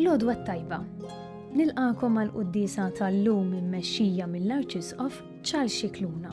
L-għodwa tajba. Nilqakom għal quddisa tal-lum immexxija mill-Arċisqof Charles Xikluna.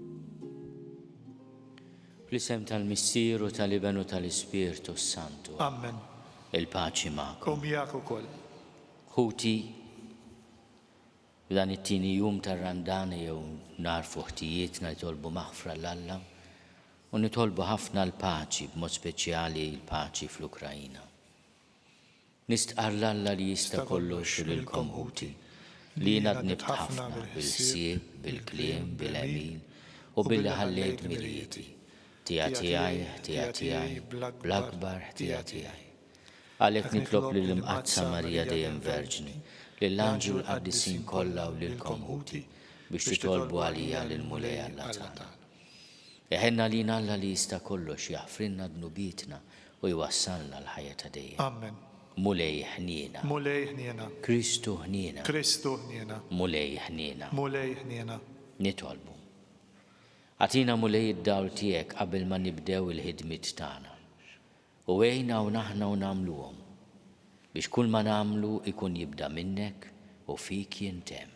Fl-isem tal-Missier u tal-Iben u tal-Ispirtu s-Santu. Amen. Il-paċi magħkom. U miegħek ukoll. Ħuti, dan it-tieni jum tar-Randan jew nar fuħtijiet nitolbu maħfra l-Alla u nitolbu ħafna l-paċi, b'mod speċjali l-paċi fl-Ukrajina. Nistqarr 'l Alla li Jista' Kollox u lilkom ħuti, li jiena dnibt ħafna bil-ħsieb, bil-kliem, bil-għemil, u billi ħallejt dmirijieti, ħtija tiegħi, ħtija tiegħi, bl-akbar ħtija tiegħi. Għalhekk nitlob lill-Imqaddsa Marija Dejjem Verġni, lill-anġli u l-qaddisin kollha u lilkom ħuti, biex titolbu għalija lill-Mulej Alla tagħna. Iħenn għalina Alla li jista' kollox jaħfrilna dnubietna u jwassalna l-ħajja ta' dejjem. Amen. Mulej ħniena. Mulej ħniena. Kristu ħniena. Kristu ħniena. Mulej ħniena. Mulej ħniena. Nitolbu. Agħtina Mulej id-dawl tiegħek qabel ma nibdew il-ħidmiet tagħna. U għinna hawn aħna u nagħmluhom. Biex kull ma nagħmlu jkun jibda minnek u fik jintemm.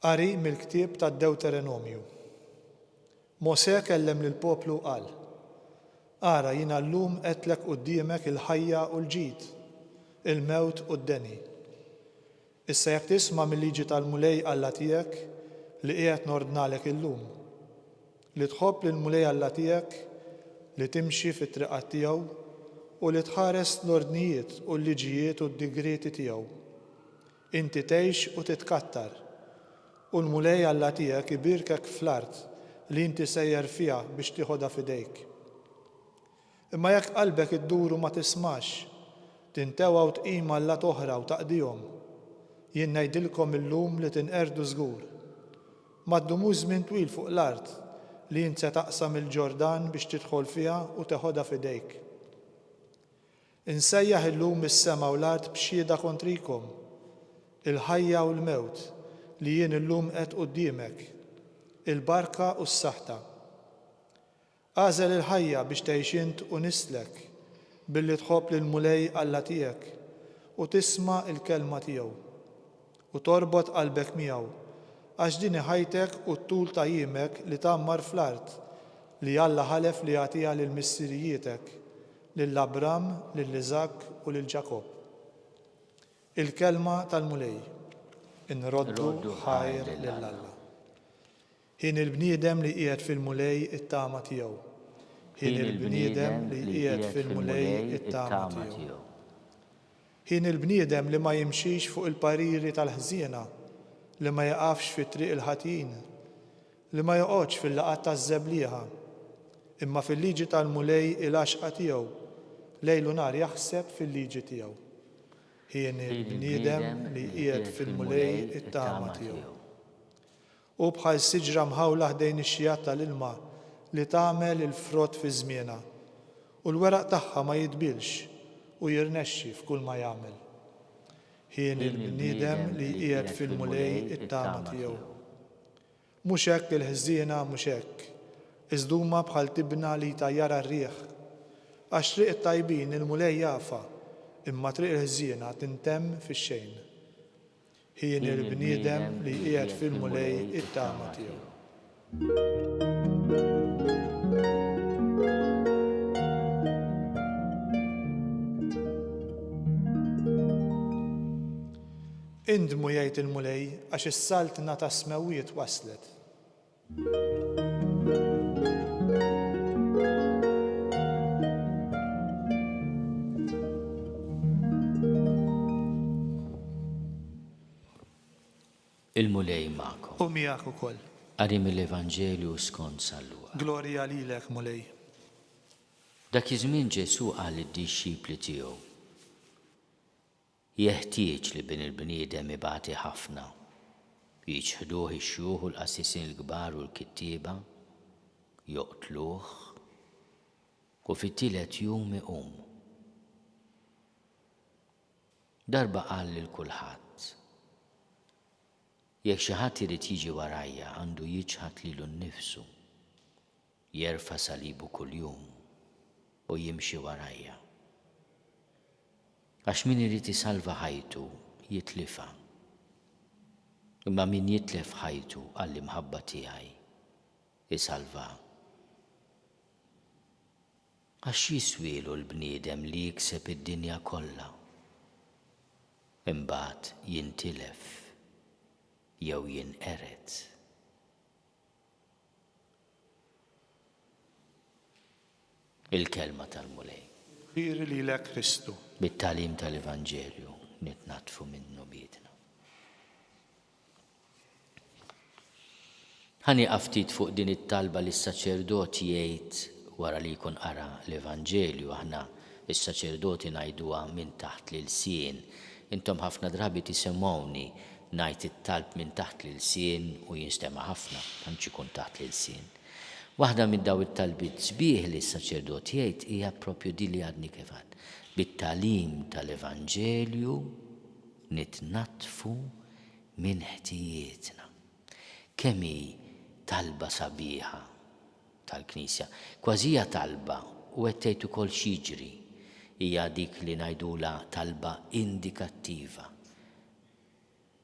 Qari mill-ktieb tad-Dewterenomju. Mosè kellem lill-poplu u qal, Ara jiena llum għedtlek quddiemek il-ħajja u l-ġid, il-mewt u d-deni. Issa jekk tisma' mil-liġi tal-Mulej Alla tiegħek li qiegħed nordnalek illum, li tħobb lill-Mulej Alla tiegħek, li timxi fit-triqat tiegħu, u li tħares l-ordnijiet u l-liġijiet u d-digrieti tiegħu, Inti tgħix u titkattar, u l-Mulej Alla tiegħek ibierkek fl-art li inti sejjer fiha biex tieħodha f'idejk. Imma jekk qalbek iddur u ma tismax, tintewwa u tqim allat oħra u taqdihom, jien ngħidilkom illum li tinqerdu żgur. Ma ddumux żmien twil fuq l-art li int se taqsam il-Ġordan biex tidħol fiha u teħodha f'idejk. Insejjaħ illum is-sema u l-art b'xhieda kontrikom, il-ħajja u l-mewt, li jien illum qiegħed quddiemek, il-barka u s-saħta. Agħżel il-ħajja biex tgħix int u nislek, billi tħobb lill-Mulej Alla tiegħek u tisma' l-kelma tiegħu, u torbot qalbek miegħu, għax din hi ħajtek u t-tul ta' jiemek li tgħammar fl-art li Alla ħalef li jagħtiha lil missirijietek, Lil Abram, lil Iżakk u lil Ġakobb. Il-kelma tal-Mulej, Inroddu ħajr lil Alla. Ħin il-bniedem li jqiegħed fil-Mulej it-tama tiegħu. Ħin il-bniedem li jqiegħed fil-Mulej it-tama tiegħu. Ħin il-bniedem li ma jimxix fuq il-pariri tal-ħżiena, li ma jaqafx fi triq il-ħatjin, Li ma joqgħodx fil-laqgħat taż-żeblieħa, imma fil-liġi tal-Mulej il-għaxqa tiegħu, lejl u nhar jaħseb fil-liġi tiegħu. Hieni l-bniedem li jqiegħed fil-Mulej it-tama tiegħu. Hu bħal siġra mħawla ħdejn ix-xjigħat tal-ilma li tagħmel il-frott fi żmienha, u l-weraq tagħha ma jidbilx u jirnexxi f'kulma jagħmel. Hieni l-bniedem li jqiegħed fil-Mulej it-tama tiegħu. Mhux hekk il-ħżiena, mhux hekk. Iżd huma bħal tibna li jtajjarha r-riħ. Għax triq it-tajbin il-Mulej jafha, imma triq il-ħżiena tintemm fix-xejn. Hien il-bniedem li jqiegħed fil-Mulej it-tama tiegħu. Indmu, jgħid il-Mulej, għax is-Saltna tas-Smewwiet waslet. Il-Mulej magħkom. U miegħek ukoll. Qari mill-Evanġelju skont San Luqa. Glorja lilek, Mulej. Dak iż-żmien Ġesù qal lid-dixxipli tiegħu. Jeħtieġ li bin il-bniedem ibati ħafna, jiċħduh ix-xjuħ u l-qassisin il-kbar u l-kittieba, joqtluh, u fit-tielet jum iqum. Darba qal lil kulħadd, Jekk xi ħadd irid jiġi warajja għandu jiċħad lilu nnifsu. Jerfa' salibu kuljum u jimxi warajja. Għax min irid isalva ħajtu jitlifha. Imma min jitlef ħajtu għall-imħabba tiegħi, isalvha. Għax x'jiswielu l-bniedem li jikseb id-dinja kollha, imbagħad jintilef jew jinqered? il-Kelma tal-Mulej. Kbir lilek Kristu. Bit-tagħlim tal-Evanġelju nitnaddfu minnu biedna. Ħa nieqaf ftit fuq din it-talba li s-saċerdot jgħid wara li jkun qara l-Evanġelju aħna s-saċerdoti ngħiduha minn taħt l-ilsien. Intom ħafna drabi tisimgħuni Ngħid it-talb minn taħt l-ilsien u jinstema' ħafna, tantx ikun taħt l-ilsien. Waħda minn dawn it-talbiet sbieħ li s-saċerdot jgħid hija proprju din li għadni kif għedt. Bit-tagħlim tal-Evanġelju nitnaddfu minn ħtijietna. Kemm hi talba sabiħa tal-Knisja! Kważi hija talba u qed tgħid ukoll x'jiġri. Hija dik li ngħidulha talba indikattiva.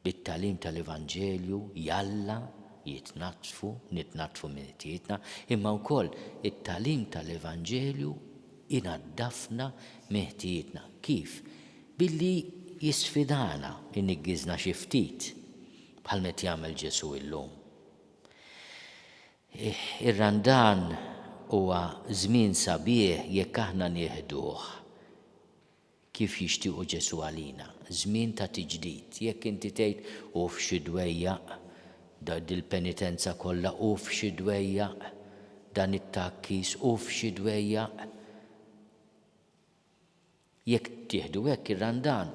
bit-tagħlim tal-Evanġelju jalla jitnaddfu, nitnaddfu minn ħtijietna, imma wkoll it-tagħlim tal-Evanġelju inaddafna minn ħtijietna. Kif? Billi jisfidana jniggiżna xi ftit, bħal m'qed jagħmel Ġesù illum. Ir-Randan huwa żmien sabiħ jekk aħna nieħduh Kif jixtiequ Ġesù għalina? Żmien ta' tiġdid. Jekk inti tgħid, 'Uff xi dwejjaq! Da dil-penitenza kollha, uff xi dwejjaq! Dan it-tgħakkis, uff xi dwejjaq! Jekk tieħdu hekk ir-Randan,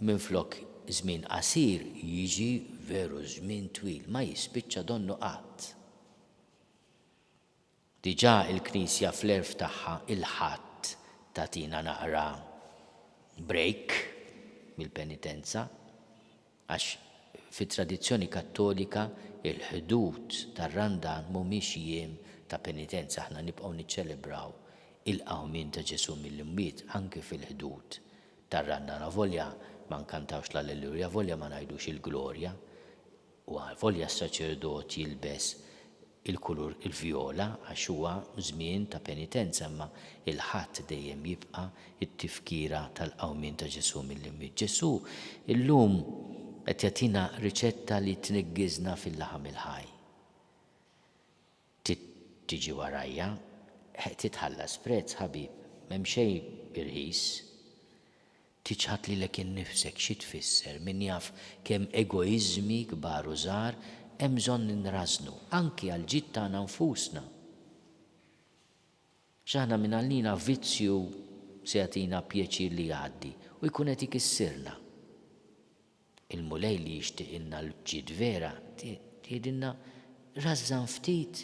minflok żmien qasir, jiġi veru żmien twil, ma jispiċċa donnu qatt. Diġà il-Knisja fl-għerf tagħha il-Ħadd tagħtina naqra break mill-penitenza għax fit-tradizzjoni Kattolika il-ħdud tar-Randan mhumiex jiem ta' penitenza, aħna nibqgħu niċċelebraw il-Qawmien ta' Ġesù mill-imwiet anki fil-ħdud tar-Randan avolja ma nkantawx l-Alleluja, avolja ma ngħidux il-Glorja, u għalvolja s-saċerdot jilbes il-kulur il-vjola għax huwa żmien ta' penitenza imma il-Ħadd dejjem jibqa' t-tifkira tal-qawmien ta' Ġesù mill-imwiet. Ġesù llum qed jagħtina riċetta li tniggiżna fil-laħam il-ħaj. Trid tiġi warajja. Trid tħallas prezz, ħabib. M'hemm xejn irħis. Tiċħad lilek innifsek xi tfisser, min jaf kemm egoiżmi kbar u żgħar hemm bżonn li nrażżnu, anki għall-ġid tagħna nfusna. X'aħna mingħallina vizzju se jagħtina pjaċir li jgħaddi u jkun qed ikissirna. Il-Mulej li jixtiqilna l-bġid vera jgħidilna, Rażżan ftit,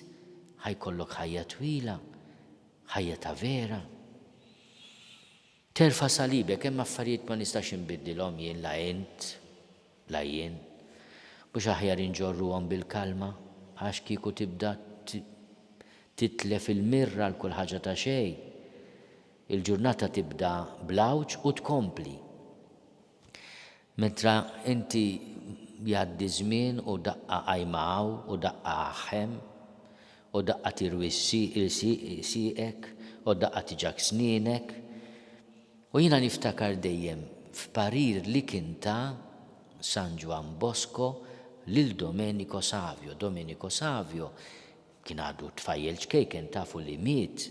ħa jkollok ħajja twila, ħajja ta' vera. Terfa' salibek, hemm affarijiet ma nistax inbiddilhom jien la int, la jien. Mhux aħjar inġorruhom bil-kalma, għax kieku tibda titlef il-mirra għal kull ħaġa ta' xejn, il-ġurnata tibda bl-għawġ u tkompli. Mentre inti jgħaddi ż-żmien u daqqa qajma hawn u daqqa aħ hemm, u daqqa tirwi s-sieqek u daqqa tiġak snienek, u jiena niftakar dejjem f'parir li kien ta San Ġwann Bosco lil Domenico Savio. Domenico Savio kien għadu tfajjel ċkejken tafu li miet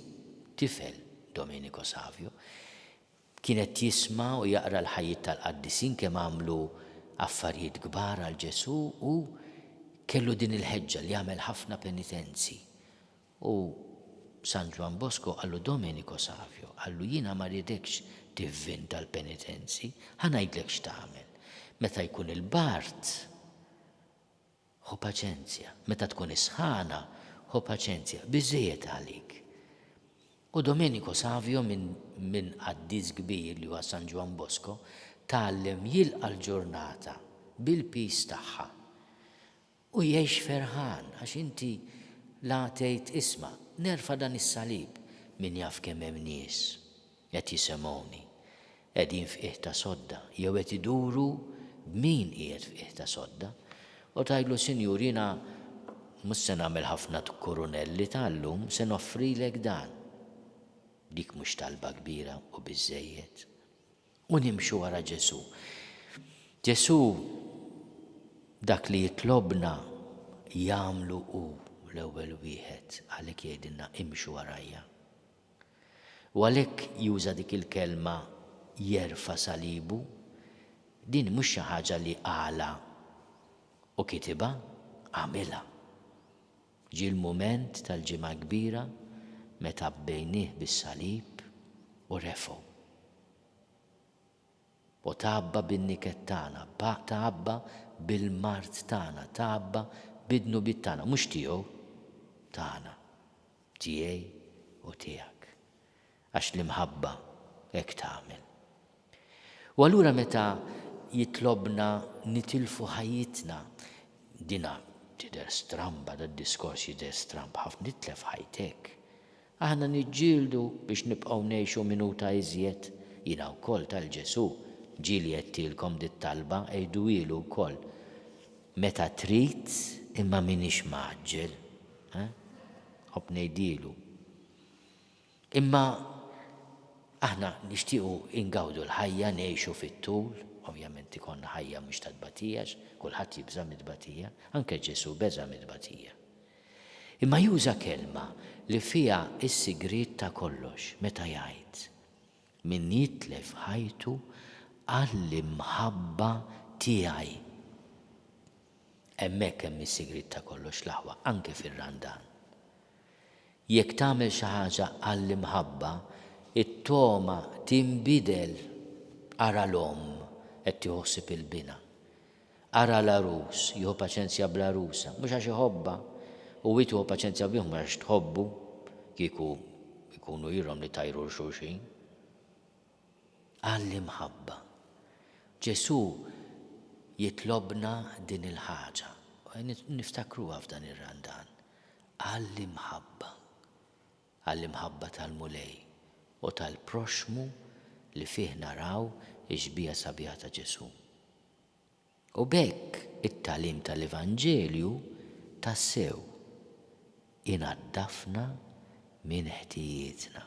tifel Domenico Savio. Kien qed jisma' u jaqra l-ħajjiet tal-qaddisin kemm għamlu affarijiet kbar għal Ġesù u kellu din il-ħeġġa li jagħmel ħafna penitenzi. U San Ġwann Bosco qallu Domenico Savio, qallu jiena ma rridekx tivvin tal-penitenzi, ħa ngħidlek x'tagħmel. Meta jkun il-bard, Ħu paċenzja. Meta tkun is-sħana, ħu paċenzja. Biżżejjed għalik. U Domenico Savio, minn qaddis kbir li huwa San Ġwann Bosco, tgħallem jilqa' l-ġurnata bil-piż tagħha u jgħix ferħan għax inti la tgħid isma', nerfa' dan is-salib, min jaf kemm hemm nies qed jisemgħuni. qegħdin f'qiegħ ta' sodda jew qed iduru b'min qiegħed f'qiegħ ta' sodda, u tgħidlu, Sinjur, jiena mhux se nagħmel ħafna tkurunelli ta' llum, se noffrilek dan. Dik mhux talba kbira u biżżejjed? U nimxu wara Ġesù. Ġesù dak li jitlobna jagħmlu hu l-ewwel wieħed, għalhekk jgħidilna, Imxu warajja. U għalhekk juża dik il-kelma jerfa' salibu. Din mhux xi ħaġa li qalha u kitibha, għamilha. Ġie l-mument tal-Ġimgħa l-Kbira meta abbejnieh bis-salib u refgħu. O tgħabba bin-niket tagħna, pa tgħabba bil-mard tagħna, tgħabba bid-dnubiet tagħna, mhux tiegħu, tagħna, tiegħi u tiegħek, għax l-imħabba hekk tagħmel. U allura meta jitlobna nitilfu ħajjitna, dinha tidher stramba, dad-diskors jidher stramb ħafna, titlef ħajtek, Aħna niġġieldu biex nibqgħu ngħixu minuta iżjed. Jiena wkoll tal Ġesù. Ġieli għedtilkom dit-talba, għiduhielu wkoll. Meta trid, imma m'iniex mgħaġġel. Nħobb ngħidielu. Imma aħna nixtiequ ingawdu l-ħajja, ngħixu fit-tul. Ovvjament ikollna ħajja mhux ta' tbatijax, kulħadd jibża' mit-tbatija. Anke Ġesù beża' mit-tbatija. Imma juża kelma li fiha s-sigriet ta' kollox meta jgħid, Min jitlef ħajtu għall-imħabba tiegħi. Hemmhekk hemm is-sigriet ta' kollox l-aħwa, anke fir-Randan. Jekk tagħmel xi ħaġa għall-imħabba, it-togħma tinbidel. Ara l-omm qed tieħu ħsieb il-bina. Ara l-għarus, jieħu paċenzja bl-għarusa, mhux għax iħobbha, u hi tieħu paċenzja bih mhux għax tħobbu, kieku jkunu ilhom li tajru 'l xulxin. Għal l-imħabba. Ġesù jitlobna din il-ħaġa, niftakruha f'dan ir-Randan. Għal l-imħabba. għall-imħabba tal-Mulej u tal-proxxmu li fih naraw ix-xbieha sabiħa ta' Ġesù. U b'hekk it-tagħlim tal-Evanġelju tassew inaddafna minn ħtijietna.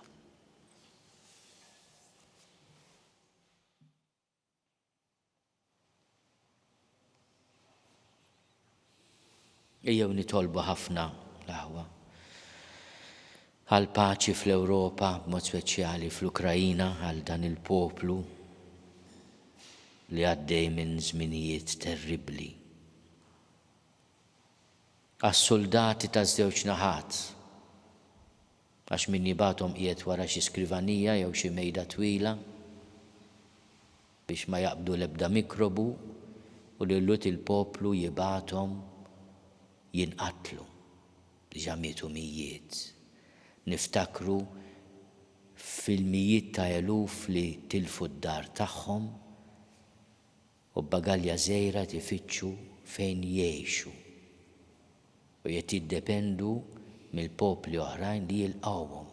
Ejjew nitolbu ħafna l-aħwa għall-paċi fl-Ewropa, b'mod speċjali fl-Ukraina, għal dan il-poplu li għaddej minn żminijiet terribbli. Għas-suldati taż-żewġ naħat Għax min jibgħathom qiegħed wara xi skrivanija jew xi mejda twila biex ma jaqbdu l-ebda mikrobu u li l-Lhud il-poplu jibgħathom jinqatlu. Diġà mietu mijiet. Niftakru fil-mijiet ta' eluf li tilfu d-dar tagħhom U b'bagalja żgħira tifittxu fejn jgħixu. U jett jiddependu mill-popli oħrajn li jilqgħuhom.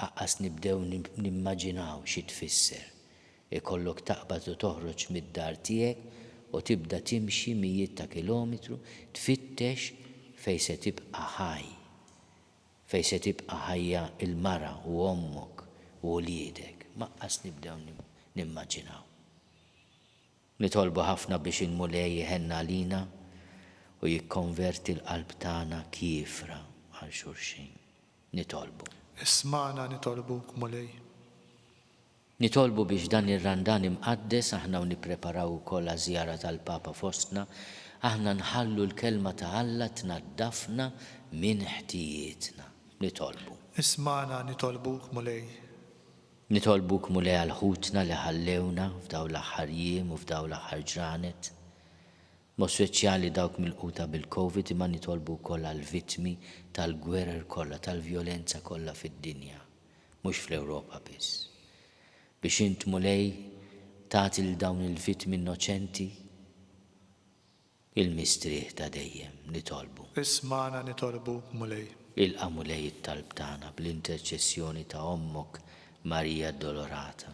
Aqqas nibdew nimmaġinaw xi tfisser ikollok taqbad u toħroġ mid-dar tiegħek u tibda timxi mijiet ta' kilometru tfittex fejn se tibqa' ħaj. Fejn se tibqa' ħajja l-mara u ommok u wliedek? Maqas nibdew nimmaġinaw. Nitolbu ħafna biex il-Mulej iħenn għalina u jikkonverti l-qalb tagħna kiefra għal xulxin. Nitolbu. Ismagħna nitolbuk, Mulej. Nitolbu biex dan ir-Randan imqaddes aħna u nippreparaw ukoll għaż-żjara tal-Papa fostna, aħna nħallu l-Kelma ta' Alla tnaddafna minn ħtijietna. Nitolbu. Ismagħna nitolbuk, Mulej. Nitolbuk, Mulej, għal ħutna li ħallewna f'dawn l-aħħar jiem u f'dawn l-aħħar ġranet. b'mod speċjali dawk milquta bil-Covid imma nitolbu wkoll għall-vittmi tal-gwerer kollha, tal-vjolenza kollha fid-dinja, mhux fl-Ewropa biss. Biex int, Mulej, tagħti lil dawn il-vittmi innoċenti il-mistrieħ ta' dejjem, nitolbu. Ismagħna nitolbu, Mulej. Ilqa', Mulej, it-talb tagħna bl-interċessjoni ta' Ommok Marija Addolorata.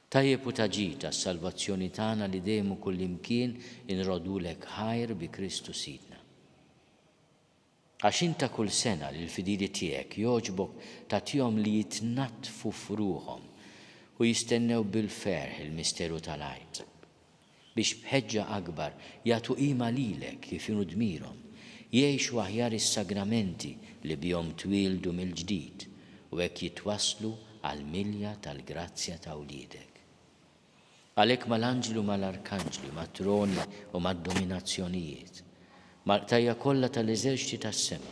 Tajjeb u ta' ġid għas-salvazzjoni tagħna li dejjem u kullimkien inroddulek ħajr bi Kristu Sidna. Għax int ta' kull sena lill-fidili tiegħek jogħġbok tagħtihom li jitnaddfu f'ruħhom u jistennew bil-ferħ il-misteru tal-Għid. biex b'ħeġġa akbar jagħtu qima lilek kif inhu dmirhom, jgħixu aħjar is-sagramenti li bihom twieldu mill-ġdid u hekk jitwasslu għall-milja tal-grazzja ta' wliedek. Għalhekk mal-anġli u mal-arkanġli, mat-troni u mad-dominazzjonijiet, mal-qtajja' kollha tal-eżerċti tas-sema,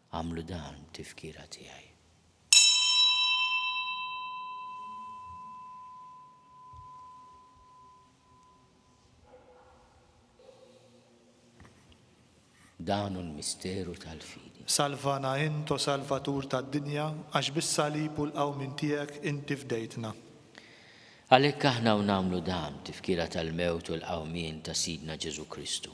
Għamlu dan b'tifkira tiegħi. Dan hu l-misteru tal-fidi. Salvana int, o Salvatur tad-dinja, għax bis-salib u l-qawmin tiegħek inti fdejtna. Għalhekk aħna u nagħmlu dan tifkira tal-mewt u l-qawmien ta' Sidna Ġesu Kristu.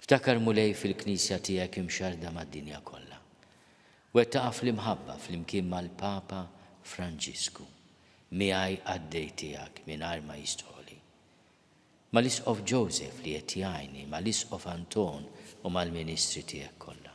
Ftakar Mulej fil-Knisja tiegħek imxarrda mad-dinja kollha. Wettaqha fl-imħabba flimkien mal-Papa Franġisku, miegħi qaddej tiegħek mingħajr ma jistħoqli. Mal-Isqof Joseph li qed jgħinni, mal-Isqof Anton u mal-ministri tiegħek kollha.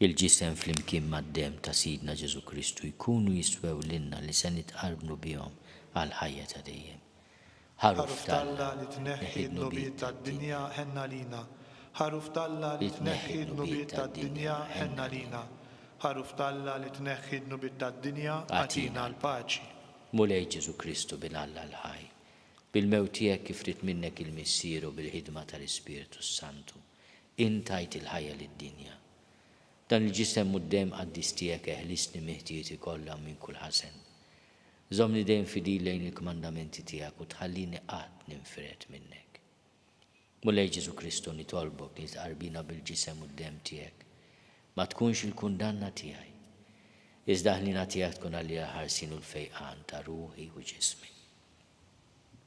Il-ġisem flimkien mad-demm ta' Sidna Ġesù Kristu jkunu jiswew lilna li se nitqarbnu bihom għall-ħajja ta' dejjem. Ħaruf t'Alla li tneħħi d-dnubiet tad-dinja ħenn għalina Ħaruf t'Alla li tneħħi d-dnubiet tad-dinja ħenn għalina Ħaruf t'Alla li tneħħi d-dnubiet tad-dinja agħtina l-paċi. Mulej Ġesù Kristu Bin Alla l-ħaj, bil-mewt tiegħek kif ried minnek il-Missier u bil-ħidma tal-Ispirtu s-Santu, Int tajt il-ħajja lid-dinja. Dan il-ġisem mud-demm qaddis tiegħek eħlisni minn ħtijti kollha u minn kull ħażen. Żommni dejjem fidil lejn il-kmandamenti tiegħek u tħallini qatt ninfired minnek. Mulej Ġesù Kristu nitolbok li tqarbina bil-ġisem u d-demm tiegħek. Ma tkunx il-kundanna tiegħi. Iżda ħniena tiegħek tkun għalija l-ħarsien u l-fejqan ta' ruħi u ġismi.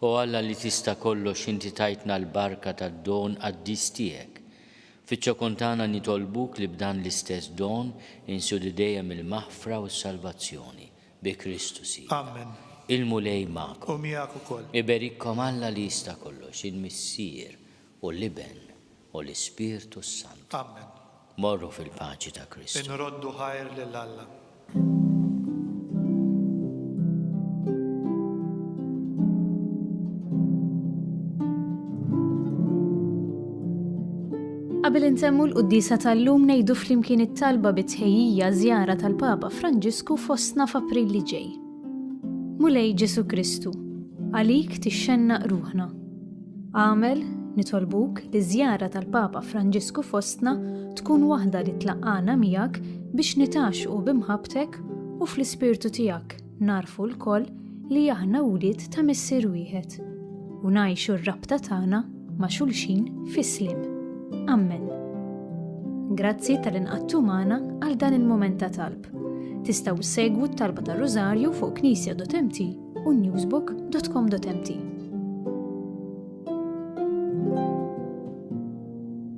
O Alla li tista' kollox inti tajtna l-barka tad-don qaddis tiegħek. Fiċ-ċokon tagħna nitolbuk li b'dan l-istess don insidu dejjem il-maħfra u s-salvazzjoni. Bi Kristu Sidna. Il-Mulej magħkom. Iberikkom Alla li jista' kollox, il-Missier u l-Iben u l-Ispirtu s-Santu. Morru fil-paċi ta' Kristu. Inroddu ħajr lil Alla. Qabel intemmu l-quddisa tal-lum ngħidu flimkien it-talba bit-tħejjija żjara tal-Papa Franġisku fostna f'April li ġej. Mulej Ġesu Kristu, għalik tixxennaq ruħna. Agħmel, nitolbuk, li ż-żjara tal-Papa Franġisku fostna tkun waħda li tlaqqana miegħek biex nitgħaxxqu b'imħabbtek u fl-ispirtu tiegħek nagħrfu lkoll li aħna wlied ta' Missier wieħed u ngħixu r-rabta tagħna ma' xulxin fis-sliem. Ammen. Grazzi tal-inqattu magħna għal dan il-mument ta' talb. Tistgħu segwu t-talba tar-Rużarju fuq knisja.mt u newsbook.com.mt.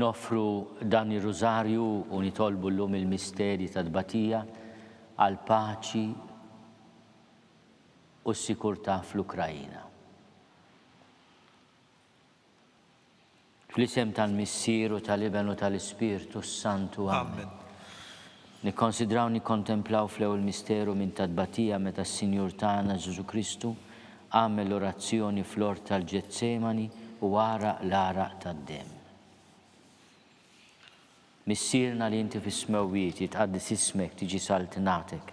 Noffru dan ir-Rużarju u nitolbu llum il-misterji tat-tbatija għall-paċi u s-sikurtà fl-Ukraina. Fl-isem tal-Missier u tal-Iben u tal-Ispirtu s-Santu. Amen. Nikkonsidraw u nikkontemplaw fl-ewwel misteru minn tat-tbatija meta s-Sinjur tagħna Ġesù Kristu għamel orazzjoni fl-ort tal-Ġetsemani u għaraq l-għaraq tad-demm. Missierna li inti fis-smewwiet, jitqaddes ismek, tiġi saltnatek,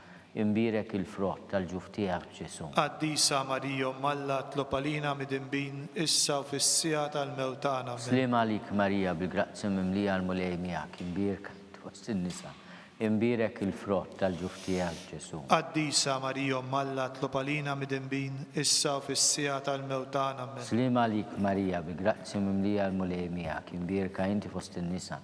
Imbierek il-frott tal-ġuf tiegħek, Ġesù. Qaddisa Marija Omm Alla, tlob għalina midinbin, issa u fis-siegħa tal-mewt tagħna. Amen. Sliem għalik Marija, bil-grazzja mimlija l-Mulej miegħek, imbierka int fost in-nisa, imbierek il-frott tal-ġuf tiegħek, Ġesù. Qaddisa Marija Omm Alla, tlob għalina midinbin, issa u fis-siegħa tal-mewt tagħna. Amen. Sliem għalik Marija, bi grazzja mimlija l-Mulej miegħek, imbierka inti fost in-nisa,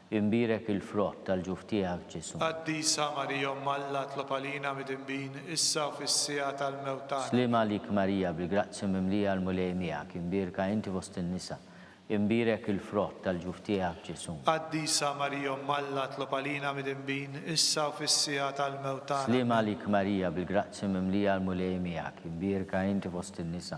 Imbierek il-frott tal-ġuf tiegħek, Ġesù. Qaddisa Marija Omm Alla, tlob għalina midinbin, issa u fis-siegħa tal-mewt tagħna. Sliem għalik Marija, bil-grazzja mimlija l-Mulej miegħek, imbierka inti fost in-nisa, imbierek il-frott tal-ġuf tiegħek, Ġesù. Qaddisa Marija Omm Alla, tlob għalina midinbin, issa u fis-siegħa tal-mewt tagħna. Sliem għalik Marija, bil-grazzja mimlija l-Mulej miegħek, imbierka inti fost in-nisa,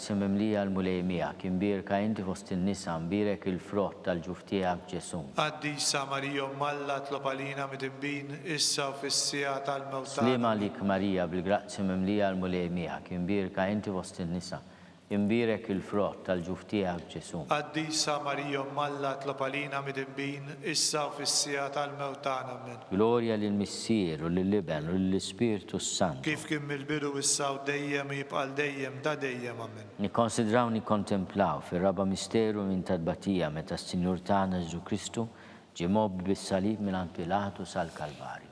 Se mimlija l-Mulej miegħek, imbierka inti fost in-nisa, mbierek il-frott tal-ġuf tiegħek Ġesù. Qaddisa Marija Omm Alla, itlob għalina midinbin, issa u fis-siegħa tal-mewt tagħna. Sliema għalik Marija, bil-grazzja mimlija l-Mulej miegħek, imbierka inti fost in-nisa, imbierek il-frott tal-ġuf tiegħek Ġesù. Qaddisa Marija Omm Alla, itlob għalina midinbin, issa u fis-siegħa tal-mewt tagħna. Ammen. Glorja lill-Missier, u lill-Iben, u lill-Ispirtu s-Santu. Kif kien mill-bidu, issa u dejjem, u jibqa' għal dejjem, ta' dejjem. Amen. Nikkonsidraw u nikkontemplaw fir-raba' misteru minn tat-tbatija meta s-Sinjur tagħna Ġesù Kristu ġie mgħobbi bis-salib mingħand Pilatu sal-Kalvarju.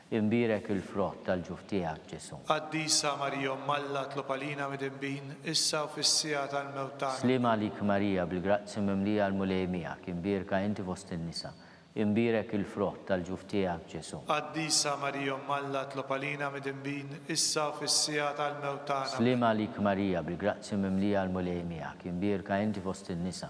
Imbierek il-frott tal-ġuf tiegħek, Ġesù. Qaddisa Marija Omm Alla, tlob għalina midinbin, issa u fis-siegħa tal-mewt tagħna. Sliem għalik Marija, bil-grazzji mimlija l-Mulej miegħek, imbierka inti fost in-nisa, imbierek il-frott tal-ġuf tiegħek, Ġesù. Qaddisa Marija Omm Alla, tlob għalina midinbin, issa u fis-siegħa tal-mewt tagħna. Sliem għalik Marija, bil-grazzji mimlija l-Mulej miegħek, imbierka inti fost in-nisa,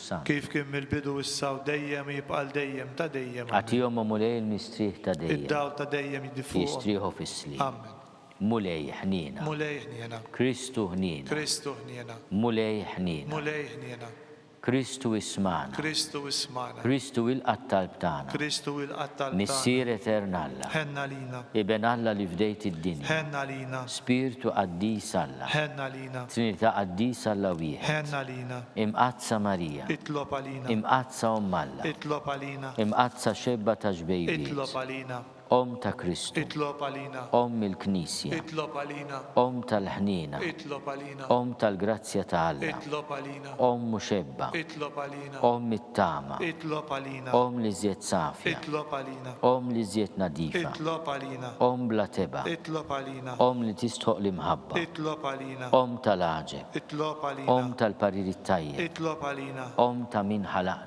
sa. Kif kien mill-bidu, issa u dejjem u jibqa' għal dejjem ta' dejjem. Ammen. Agħtihom, O Mulej, il-mistrieħ ta' dejjem. Id-dawl ta' dejjem jidhi fuqhom. Jistrieħu fis-sliem. Ammen. Mulej, ħniena. Mulej, ħniena. Kristu, ħniena. Kristu, ħniena. Mulej, ħniena. Mulej, ħniena. Kristu, ismagħna. Kristu, ismagħna. Kristu, ilqa' t-talb tagħna. Kristu, ilqa' t-talb tagħna. Missier etern Alla. Ħenn għalina. Iben Alla li fdejt id-dinja. Ħenn għalina. Spirtu qaddis Alla. Ħenn għalina. Trinità Qaddisa Alla Wieħed, Imqaddsa Marija, Imqaddsa Omm Alla, Imqaddsa Xebba ta' Xbejbiet, Omm ta' Kristu, Omm il-Knisja, Omm tal-ħniena, Omm tal-grazzja ta' Alla. Omm muxebba. Itlob għalina. Omm it-tama. Itlob għalina. Omm l-iżjed safja. Itlob għalina. Omm l-iżjed nadifa. Itlob għalina. Omm bla tebgħa. Itlob għalina. Omm li tistħoq l-imħabba. Itlob għalina. Omm tal-għaġeb. Itlob għalina. Omm tal-parir it-tajjeb. Itlob għalina. Omm ta' min ħalaqna.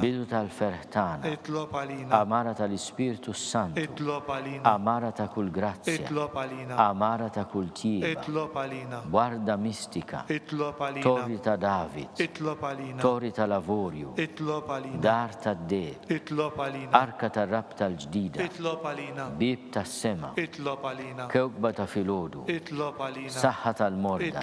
Bidu tal-ferħ tagħna. Għamara tal-Ispirtu s-Santu. Għamara ta' kull grazzja. Għamara ta' kull tjieba. B'għarda mistika. Torri ta' David. Tori tal-Avorju. Dar tad-deheb. Arka tar-rabta l-ġdida. Bieb tas-sema. Kewkba ta' filgħodu. Saħħa tal-morda.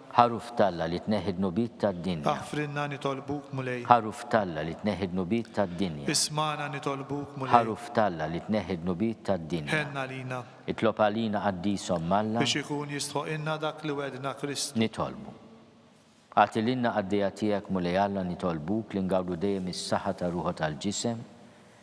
Għaruf t'Alla li tneħħi d-dnubiet tad-dinja. Aħfrilna nitolbuk, Mulej. Għaruf t'Alla li tneħħi d-dnubiet tad-dinja. Ismagħna nitolbuk, Mulej. Għaruf t'Alla li tneħħi d-dnubiet tad-dinja. Ħenn għalina. Itlob għalina Qaddisa Omm Alla. Biex ikun jistħoqilna dak li wegħdna Kristu. Nitolbu. Agħti lilna qaddejja tiegħek, Mulej Alla, nitolbuk li ngawdu dejjem is-saħħa tar-ruħu tal-ġisem.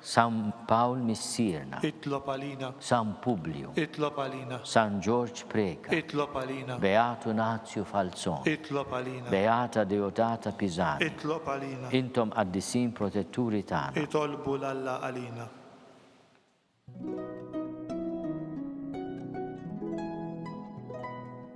San Pawl Missierna. Itlob għalina. San Publju. Itlob għalina. San Ġorġ Preca. Itlob għalina. Beatu Nazju Falzon. Itlob għalina. Beata Deodata Pisani. Itlob għalina. Intom qaddisin protetturi tagħna. Itolbu 'l Alla għalina.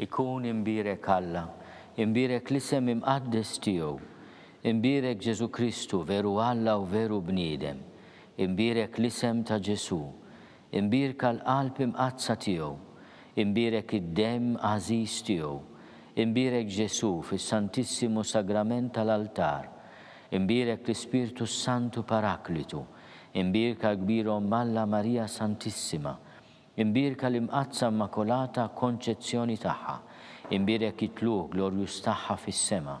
Ikun imbierek Alla, imbierek l-isem imqaddes tiegħu, imbierek Ġesu Kristu veru Alla u veru bniedem, imbierek l-isem ta' Ġesu, Imbierka l-qalb imqaddsa tiegħu, imbierek id-demm għażiż tiegħu, imbierek Ġesù fis-Santissimu Sagrament tal-altar, imbierek l-Ispirtu s-Santu Paraklitu, imbierka l-Kbir Omm Alla Marija Santissima, imbierka l-Imqaddsa Immakolata Konċezzjoni tagħha, imbierek it-tlugħ glorjuż tagħha fis-sema,